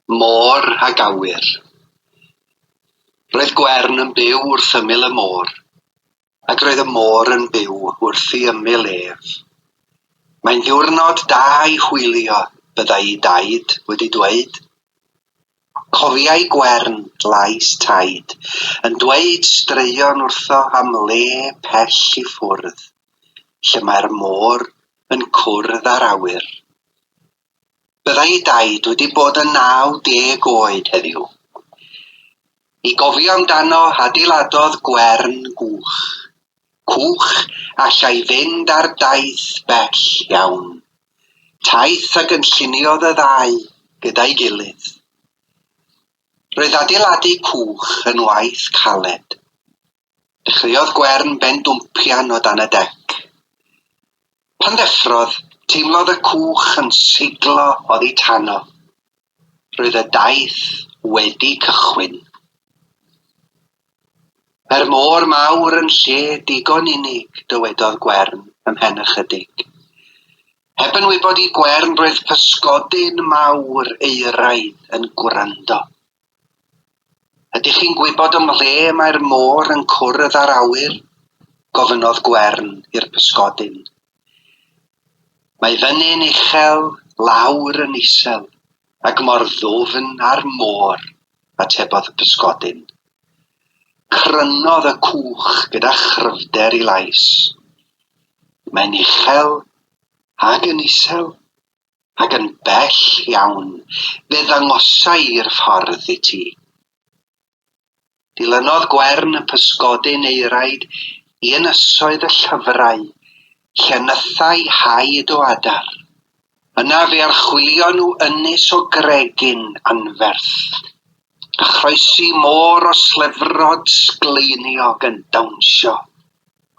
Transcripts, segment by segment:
Môr ag awyr. Roedd Gwern yn byw wrth ymyl y môr, ac roedd y môr yn byw wrth i ymyl ef. Mae'n ddiwrnod da i hwylio, byddai i daid wedi dweud. Cofiai Gwern Glais Taid yn dweud straeon wrtho am le pell i ffwrdd, lle mae'r môr yn cwrdd â'r awyr. Byddai ei daid wedi bod yn 90 oed heddiw. I gofio amdano, adeiladodd Gwern gwch. Cwch allai fynd ar daith bell iawn taith a gynlluniodd y ddau gyda'i gilydd. Roedd adeiladu cwch yn waith caled. Dechreuodd Gwern bendwmpian o dan y dec. Pan ddeffrodd, teimlodd y cwch yn seiglo oddi tano. Roedd y daith wedi cychwyn. Yr môr mawr yn lle digon unig, dywedodd Gwern, ymhen ychydig. Heb yn wybod i Gwern roedd pysgodyn mawr euraidd yn gwrando. Ydych chi'n gwybod ym mhle mae'r môr yn cwrdd â'r awyr? gofynnodd Gwern i'r pysgodyn. Mae fyny'n uchel, lawr yn isel, Ac mor ddwfn â'r môr, atebodd y pysgodyn. Crynodd y cwch gyda chryfder i lais. Mae'n uchel, ac yn isel, ac yn bell iawn, fe ddangosai i'r ffordd i ti. Dilynodd Gwern y pysgodyn ei raid i ynysoedd y llyfrau, lle nythai haid o adar. Yna fe archwilio nhw ynys o gregyn anferth, a chroesi môr o slyfrod sgleiniog yn dawnsio.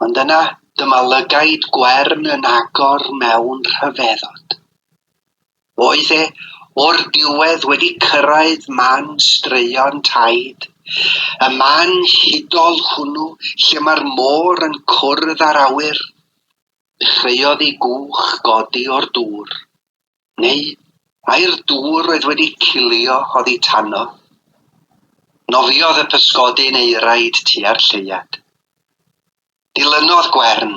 Ond yna, dyma lygaid Gwern yn agor mewn rhyfeddod. Oedd e o'r diwedd wedi cyrraedd man straeon Taid, y man hudol hwnnw lle mae'r môr yn cwrdd â'r awyr? Dechreuodd ei gwch godi o'r dŵr. Neu ai'r dŵr oedd wedi cilio oddi tano? Nofiodd y pysgodyn euraid tua'r lleuad. Dilynodd Gwern.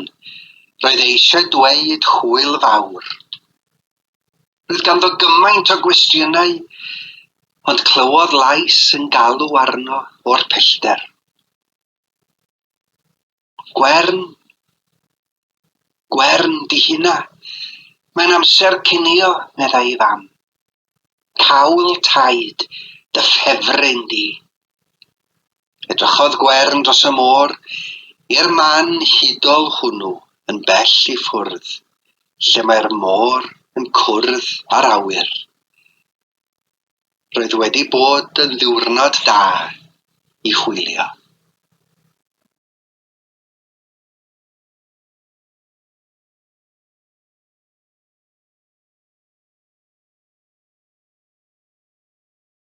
Roedd e eisiau dweud hwyl fawr. Roedd ganddo gymaint o gwestiynau, ond clywodd lais yn galw arno o'r pellter. Gwern, Gwern, di hynna. Mae'n amser cinio, meddai ei fam. Cawl taid, dy ffefryn di. Edrychodd Gwern dros y môr i'r man hudol hwnnw yn bell i ffwrdd, lle mae'r môr yn cwrdd â'r awyr. Roedd wedi bod yn ddiwrnod da i hwylio.